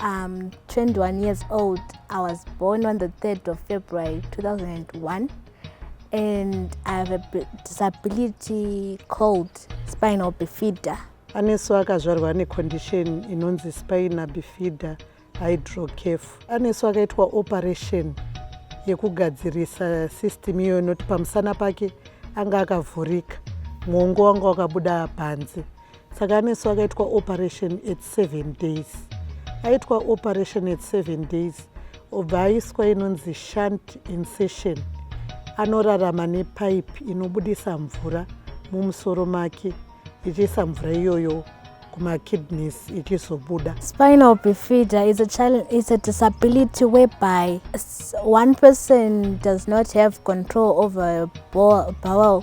I'm um, 21 years old. I was born on the 3rd of February 2001 and I have a disability called spinal bifida. Anesu akazvarwa necondition inonzi spina bifida hydrocaf. Anesu akaitwa operation yekugadzirisa system iyoyo noti pamusana pake anga akavhurika mwongo wanga wakabuda panze. saka anesu akaitwa operation at seven days aitwa operation at seven days obva aiswa inonzi shant insession anorarama nepaipi inobudisa mvura mumusoro make ichiisa mvura iyoyo kumakidneys ichizobuda spinal bifida is a, is a disability whereby one person does not have control over bowel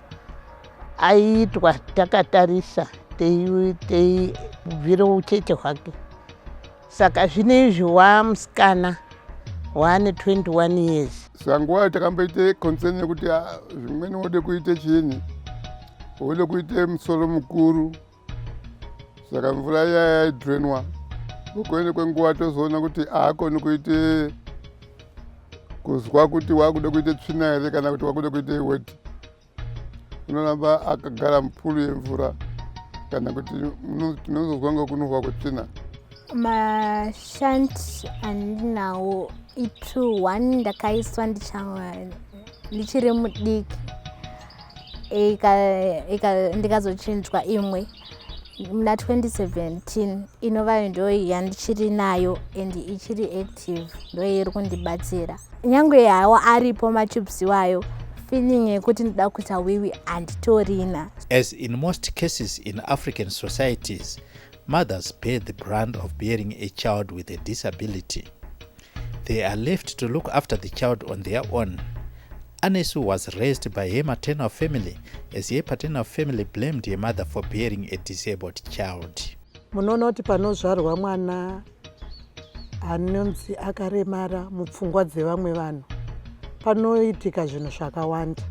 aiitwa takatarisa teibvira uchete hwake saka zvino izvi wamusikana waane 21 years sanguva takamboita concern yekuti ah, zvimweni wode kuita chini wode kuita musoro mukuru saka mvura iya yaidrenwa kukuende kwenguva tozoona kuti aakoni kuite kuzwa kuti waakuda kuita tsvina here kana kuti waakuda kuita iweti unoramba akagara mupulu yemvura kana kuti tinozozwa nga kunohwa kwetsvina mashanti andinawo itu one ndakaiswa ndichiri mudiki ndikazochinjwa imwe muna 2017 inovayo ndoyi yandichiri nayo and ichiri active ndoyi iri kundibatsira nyange yawo aripo machips iwayo feeling yekuti ndida kuita wiwi handitorina as in most cases in african societies Mothers bear the brand of bearing a child with a disability. They are left to look after the child on their own. Anesu was raised by her maternal family as her paternal family blamed her mother for bearing a disabled child. Munoona kuti panozvarwa mwana anonzi akaremara mupfungwa dzevamwe vanhu panoitika zvinhu zvakawanda.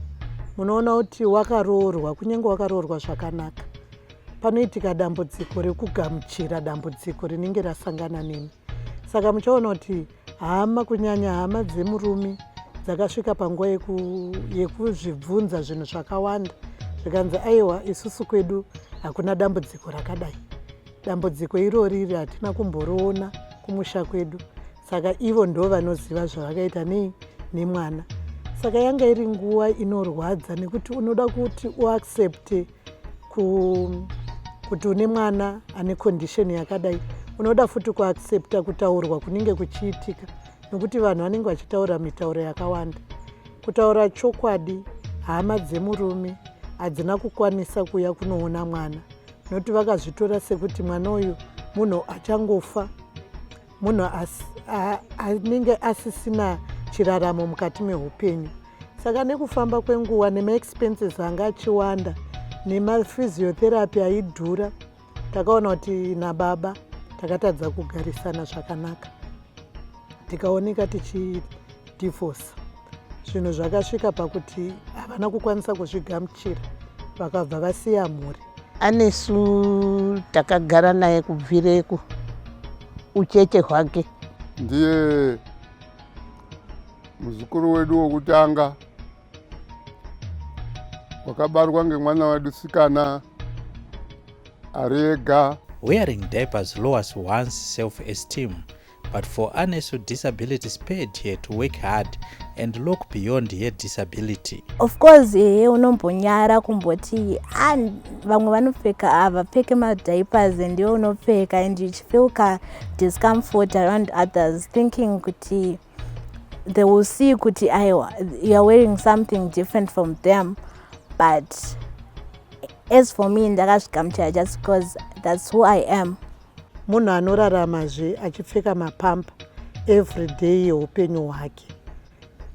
Munoona kuti wakaroorwa, kunyange wakaroorwa zvakanaka, panoitika dambudziko rekugamuchira dambudziko rinenge rasangana nemi saka muchaona kuti hama kunyanya hama dzemurume dzakasvika panguva yekuzvibvunza zvinhu zvakawanda zvikanzi aiwa isusu kwedu hakuna dambudziko rakadai dambudziko irori iri hatina kumboroona kumusha kwedu saka ivo ndo vanoziva zvavakaita nei nemwana saka yanga iri nguva inorwadza nekuti unoda kuti uaccepte kuti une mwana ane condition yakadai unoda futi kuaccepta kutaurwa kunenge kuchiitika nokuti vanhu vanenge vachitaura mitauro yakawanda kutaura chokwadi hama dzemurume hadzina kukwanisa kuuya kunoona mwana nokuti vakazvitora sekuti mwana uyu munhu achangofa munhu anenge asisina chiraramo mukati meupenyu saka nekufamba kwenguva nemaexpenses anga achiwanda nemaphysiotherapy aidhura takaona kuti nababa takatadza kugarisana zvakanaka tikaoneka tichidivhosa zvinhu zvakasvika pakuti havana kukwanisa kuzvigamuchira vakabva vasiya mhuri anesu takagara naye kubvireko uchete hwake ndiye muzukuru wedu wokutanga wakabarwa ngemwana wedu sikana ari ega wearing diapers lowers one's self esteem But for Anes with disability, spare it here to work hard and look beyond her disability. Of course, ehe unombonyara kumboti ah, vamwe vanopfeka havapfeke ah, madiapers and iwe unopfeka and you feel ka discomfort around others thinking kuti they will see kuti aiwa you are wearing something different from them but as for me ndakazvigamuchira just because that's who i am Munhu anorarama zve achipfeka mapampa everyday yeupenyu hwake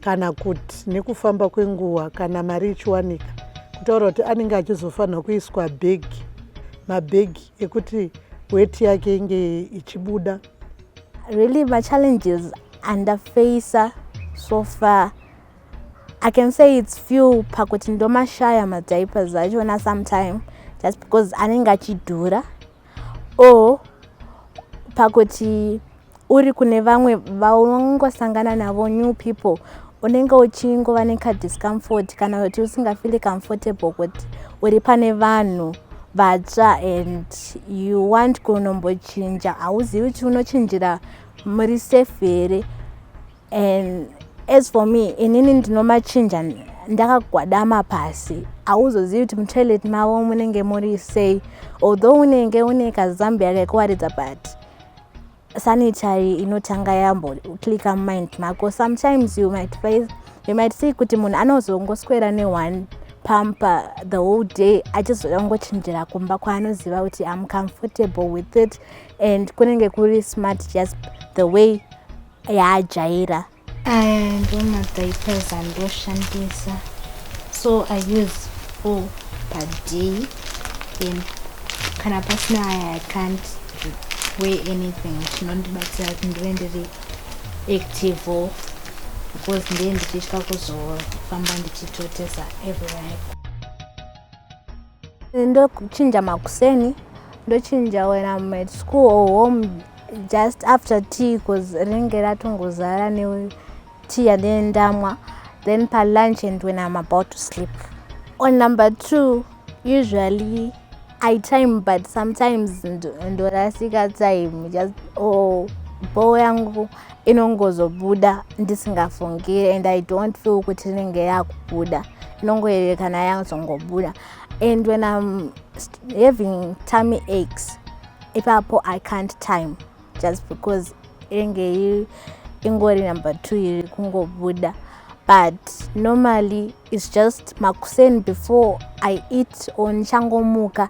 kana kuti nekufamba kwenguva kana mari ichiwanika kutaura kuti anenge achizofanirwa kuiswa bhegi mabhegi ekuti weti yake inge ichibuda really machallenges andafeisa so far i can say its few pakuti ndomashaya madiapers achona sometime just because anenge achidhura or pakuti uri kune vamwe vaungosangana navo new people unenge uchingova nekadiscomfort kana kuti usingafili comfortable kuti uri pane vanhu vatsva and you want kunombochinja hauzivi kuti unochinjira muri safe here and as for me inini ndinomachinja ndakagwadama pasi hauzozivi kuti mutoilet mavo munenge muri sei although unenge une kazambia kekuwaridza but sanitary inotanga yambo clicka mumind mako sometimes you might face you might see kuti munhu anozongoswera neone pampa the whole day achizoda kungochinjira kumba kwaanoziva kuti am comfortable with it and kunenge kuri smart just the way yaajaira aya ndomadiapers andoshandisa so i use four per day and kana pasina aya i can't weigh anything chinondibatsira kuti ndive ndiri active because ndiye ndichitya kuzofamba ndichitotesa everywhere ndochinja makuseni ndochinja when am at school or home just after tea bcause rinenge ratongozara netea yandine ndamwa then palunch and when am about to sleep on number two usually i time but sometimes ndorasika time just or oh, bho yangu inongozobuda ndisingafungire and i don't feel kuti inenge yakubuda inongoyerekana yazongobuda and when im having tummy aches ipapo i can't time just because inenge ingori number two iri kungobuda but normally its just makuseni before i eat or ndichangomuka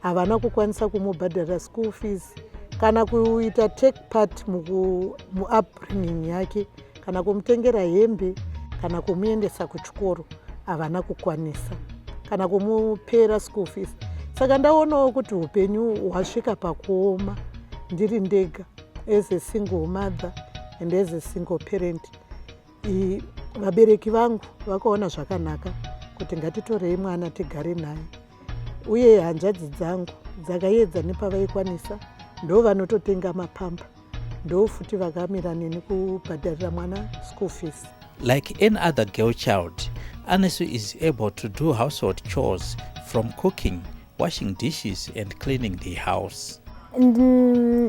havana kukwanisa kumubhadhara school fees kana kuita take part muupbringing yake kana kumutengera hembe kana kumuendesa kuchikoro havana kukwanisa kana kumupera school fees saka ndaonawo kuti upenyu hwasvika pakuoma ndiri ndega as a single mother and as a single parent Vabereki vangu vakaona zvakanaka kuti ngatitorei mwana tigare naye, uye hanzvadzi dzangu dzakayedza nepavaikwanisa, ndo vanototenga mapamba, ndo futi vakamira neni kubhadharira mwana school fees. Like any other girl child, Anesu is able to do household chores from cooking washing dishes and cleaning the house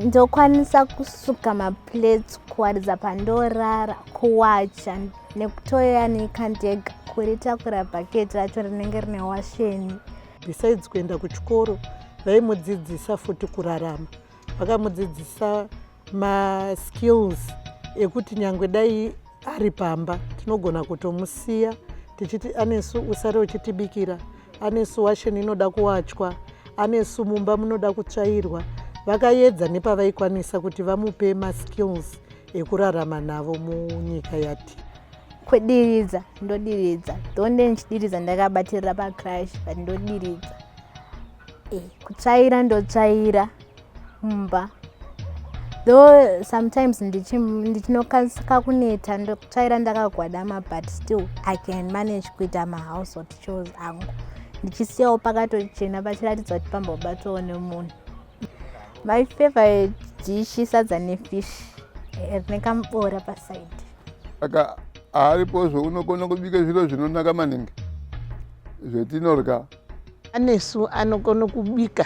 ndokwanisa kusuka maplates kuwaridza pandorara kuwacha nekutoya nekandega kuritakura bhaketi racho rinenge rine washeni besides kuenda kuchikoro vaimudzidzisa futi kurarama vakamudzidzisa maskills ekuti nyangwe dai ari pamba tinogona kutomusiya tichiti anesu usare uchitibikira anesu washeni inoda kuwachwa anesu mumba munoda kutsvairwa vakayedza nepavaikwanisa kuti vamupe maskills ekurarama navo munyika yati kwediridza ndodiridza donde ndichidiridza ndakabatirira pacrash but ndodiridza e, kutsvaira ndotsvaira mumba though sometimes ndichinokasika kuneta ndotsvaira ndakagwadama but still i can manage kuita mahousehold chores angu ndichisiyawo pakatochena pachiratidzwa kuti pambobatwawo nemunhu my favorite dishi sadza nefish eh, rine kamubora paside saka aripozvo unogona kubika zviro zvinonaka maningi zvetinorya anesu anogona kubika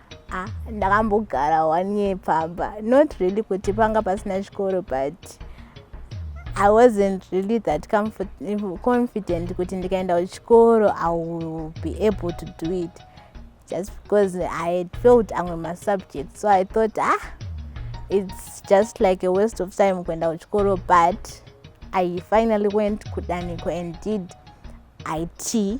Ah, ndakambogara one year pamba not really kuti panga pasina chikoro but i wasn't really that confident kuti ndikaenda kuchikoro i will be able to do it just because i had felt amwe masubject so i thought ah it's just like a waste of time kuenda kuchikoro but i finally went kudaniko and did it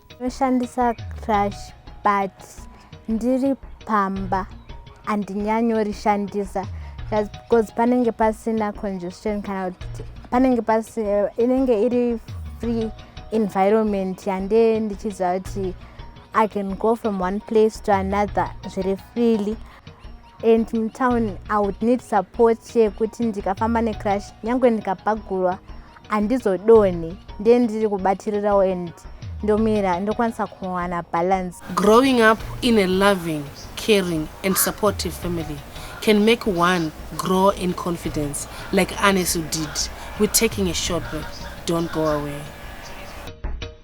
Ndoshandisa crash but ndiri pamba handinyanyorishandisa because panenge pasina congestion kana kuti panenge pasi inenge iri free environment yande ndichiziva kuti i can go from one place to another zviri freely and mutown i would need support yekuti ndikafamba necrash nyange ndikapagurwa handizodonhi ndiye ndiri kubatirirawo and ndomira ndokwanisa kuwana balance growing up in a loving caring and supportive family can make one grow in confidence like anesu did we're taking a short break don't go away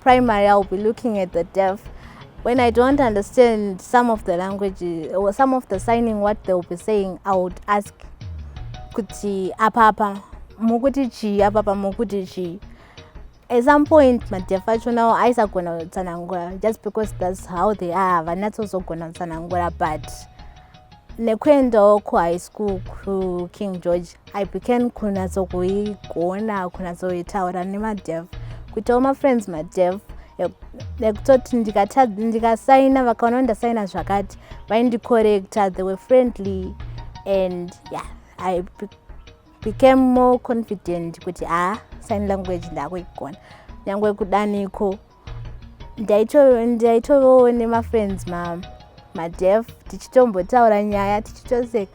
primary i'll be looking at the deaf when i don't understand some of the language or some of the signing what they'll be saying i would ask kuti apapa mukuti chii apapa mukuti chii at some point madeaf achonawo aisagona kutsanangura just because thats how they are havanatsozogona kutsanangura but nekuendawo kuhigh school kuking george i began kunatsokuigona kunatsoitaura nemadev kuitawo mafriends madev ekutoti ndikasaina vakaona ndasaina zvakati vaindicorrecta they were friendly and yeah i became more confident kuti haa ah, sign language ndakuigona nyange kudaniko ndaitovewo nemafriends ma madef tichitombotaura nyaya tichitoseka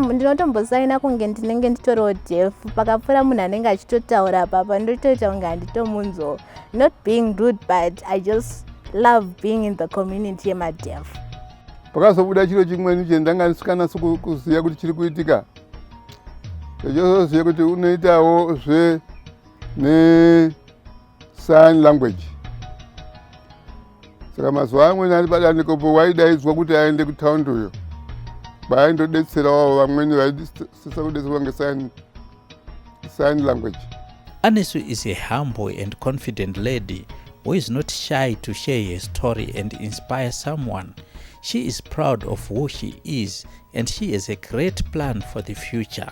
ndinotombosaina kunge ndinenge nditoriwo def pakapfuura munhu anenge achitotaura papa ndotoita kunge handitomunzwawo not being rude but i just love being in the community yemadef pakazobuda chiro chimweni chendanga ndisikanasi kuziva kuti chiri kuitika chozoziva kuti unoitawo zve nesign language saka mazuva amweni ari padanikopo waidaidzwa kuti aende kutaundi uyo vaaindodetserawo vamweni vaisisa kudetserwa ngesign language anesu is a humble and confident lady who is not shy to share her story and inspire someone she is proud of who she is and she has a great plan for the future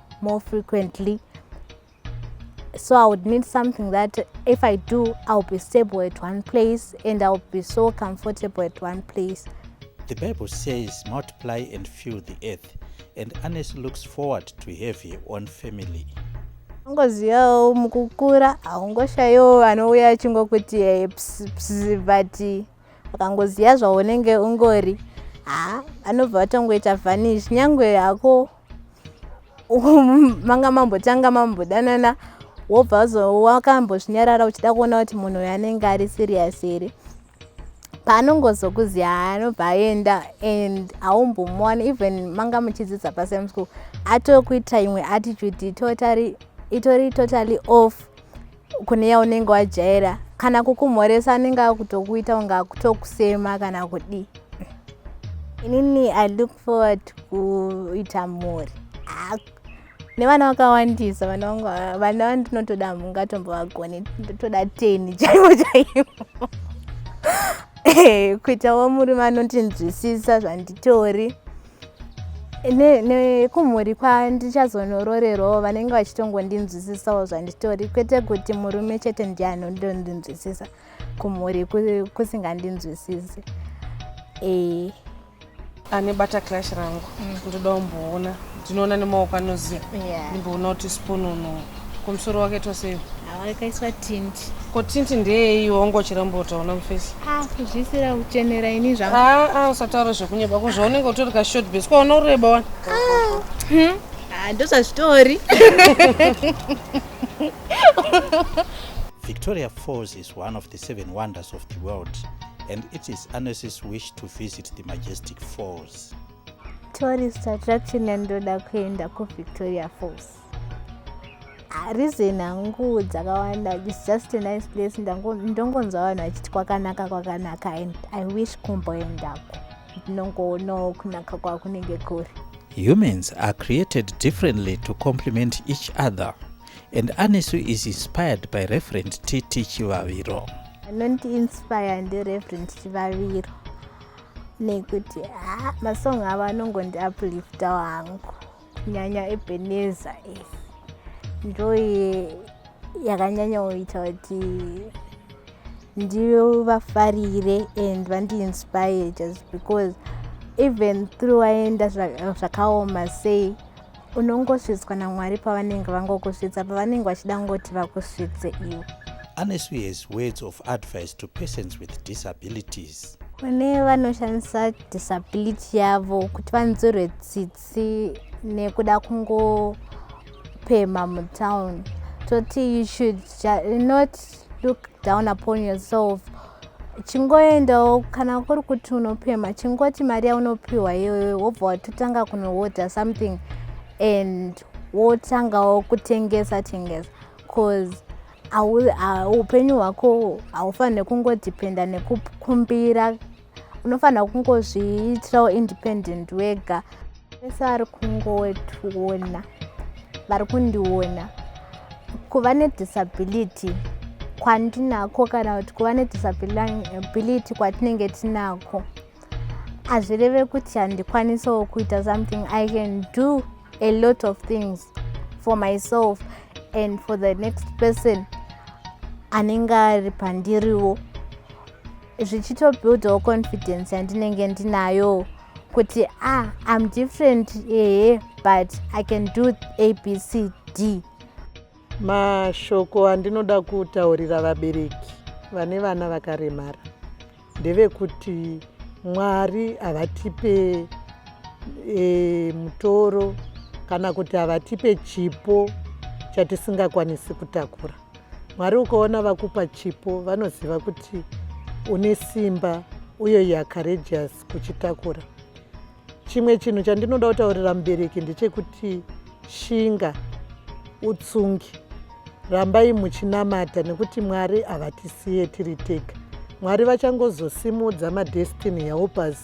more frequently so i would need something that if i do i'll be stable at one place and i'll be so comfortable at one place the bible says multiply and fill the earth and anes looks forward to have her own family ungozivawo mukukura haungoshayiwo vanouya achingokuti eh, but akangoziva zvaunenge ungori ha anobva vatongoita vanish nyangwe hako manga mambotanga mambodanana wobva wakambozvinyarara uchida kuona kuti munhu uyo anenge ari serious here paanongozokuziva anobva aenda and haumbomuwani even manga muchidzidza pasame school atokuita imwe attitude itori totally off kune yaunenge wajaira kana kukumhoresa anenge akutokuita unge akutokusema kana kudii inini i look forward kuita mhuri nevana vakawandisa vana vangu vana vandinotoda mungatombovagonei ndotoda teni chaivo chaivo kuitawo murume anondinzwisisa zvanditori nekumhuri ne, kwandichazonororerowo vanenge vachitongondinzwisisawo zvanditori kwete kuti murume chete ndiye anondondinzwisisa kumhuri kusingandinzwisisi e. ane bata clash rangu mm. ndoda umboona ndinoona nemaoko anoziva yeah. ndimboona kuti sponono kumusoro wake tosei awakaiswa tint ko tint ndeyei wongo chirambota una mufesi ah kuzvisira kuchenera ini zvangu ah ah usataura zvekunyeba ko zvaunenge utori ka short base ko una ureba wani ah hmm? ah ndozvazvitori Victoria Falls is one of the seven wonders of the world and it is Annecy's wish to visit the majestic falls. Tourist attraction yandoda kuenda ku Victoria Falls. reason hangu dzakawanda its just a nice place ndongonzwa vanhu vachiti kwakanaka kwakanaka and i wish kumboendako ndinongoonawo kunaka kwakunenge kuri humans are created differently to complement each other and anesu is inspired by referent tt chivaviro anonti inspire ndereferent chivaviro nekuti ah, masong avo anongondiapliftawo hangu nyanya ebeneza iyi ndoye yakanyanya kuita kuti ndivafarire and vandiinspire just because even through waenda zvakaoma sei unongosvitswa namwari pavanenge vangokusvitsa pavanenge vachida kungoti vakusvitse iwe anesu has words of advice to persons with disabilities kune vanoshandisa disability yavo kuti vanzwirwe tsitsi asi nekuda kungopemha mutown toti you should not look down upon yourself chingoendawo kana kuri kuti unopemha chingoti mari yaunopiwa iyoyo wobva watotanga kunowoda something and wotangawo kutengesa tengesa bcause upenyu hwako haufanire kungodependa nekukumbira unofanira kungozviitirawo independent wega vese vari kungotiona vari kundiona kuva nedisability kwandinako kana kuti kuva nedisability kwatinenge tinako hazvireve kuti handikwanisawo kuita something i can do a lot of things for myself and for the next person anenge ari pandiriwo zvichitobuildawo confidence yandinenge ndinayo kuti ah im different ehe but i can do abcd mashoko andinoda kutaurira vabereki vane vana vakaremara ndevekuti mwari havatipe e, mutoro kana kuti havatipe chipo chatisingakwanisi kutakura Mwari ukaona vakupa chipo vanoziva kuti une simba uye you are courageous kuchitakura. Chimwe chinhu chandinoda kutaurira mubereki ndechekuti shinga utsungi rambai muchinamata nekuti mwari havatisiye tiri tega mwari vachangozosimudza madestiny helpers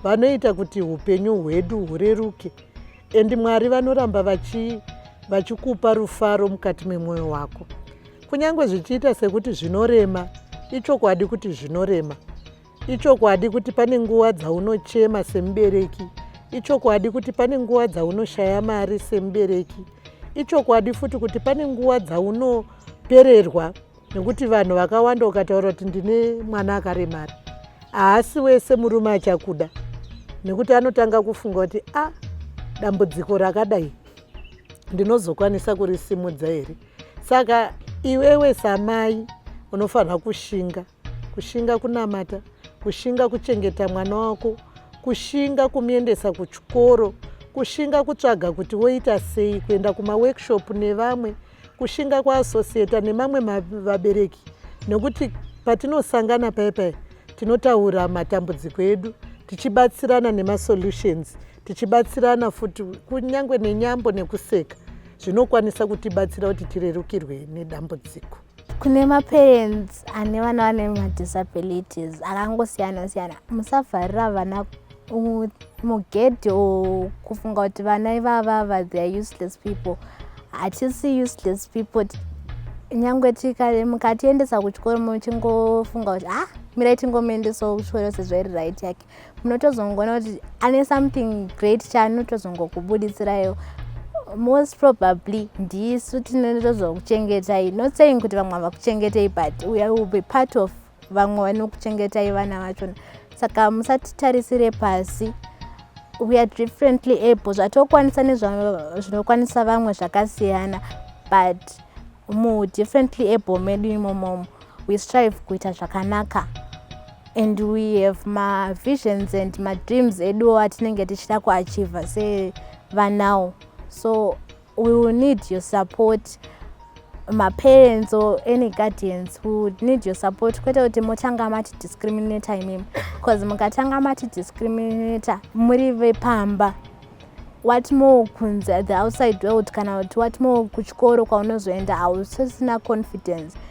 vanoita kuti upenyu hwedu hureruke and mwari vanoramba vachikupa vachi rufaro mukati memwoyo wako kunyange zvichiita sekuti zvinorema ichokwadi kuti zvinorema ichokwadi kuti pane nguva dzaunochema semubereki ichokwadi kuti pane nguva dzaunoshaya mari semubereki ichokwadi futi kuti pane nguva dzaunopererwa nekuti vanhu vakawanda ukataura kuti ndine mwana akaremara haasi wese murume achakuda nekuti anotanga kufunga kuti a ah, dambudziko rakadai ndinozokwanisa kurisimudza here saka iwewe samai unofanira kushinga kushinga kunamata kushinga kuchengeta mwana wako kushinga kumuendesa kuchikoro kushinga kutsvaga kuti woita sei kuenda kumaworkshop nevamwe kushinga kwaasosiyeta nemamwe vabereki nekuti patinosangana paye paye tinotaura matambudziko edu tichibatsirana nemasolutions tichibatsirana futi kunyange nenyambo nekuseka zvinokwanisa kutibatsira kuti tirerukirwe nedambudziko kune maparents ane vana vane madisabilities akangosiyana siyana musavharira vana mugedhi or kufunga kuti vana ivavava they are useless people hatisi useless people nyange mukatiendesa kuchikoro muchingofunga kuti ah mirai tingomuendesawo kuchikoro sezvairi right yake munotozongoona kuti ane something great chaanotozongokubuditsirayo most probably ndisu tinotozokuchengetai not saying kuti vamwe havakuchengetei but we will be part of vamwe vanokuchengetai vana vachona saka musatitarisire pasi we are differently able zvatokwanisa nezvinokwanisa vamwe zvakasiyana but mu differently able medu imomomo we strive kuita zvakanaka and we have mavisions and madreams eduwo atinenge tichida kuachiva sevanawo so We will need your support maparents or any guardians who would need your support kwete kuti motanga mati discriminator imimi because mukatanga mati discriminator muri vepamba what more kunze the outside world kana kuti what more kuchikoro kwaunozoenda hausisina confidence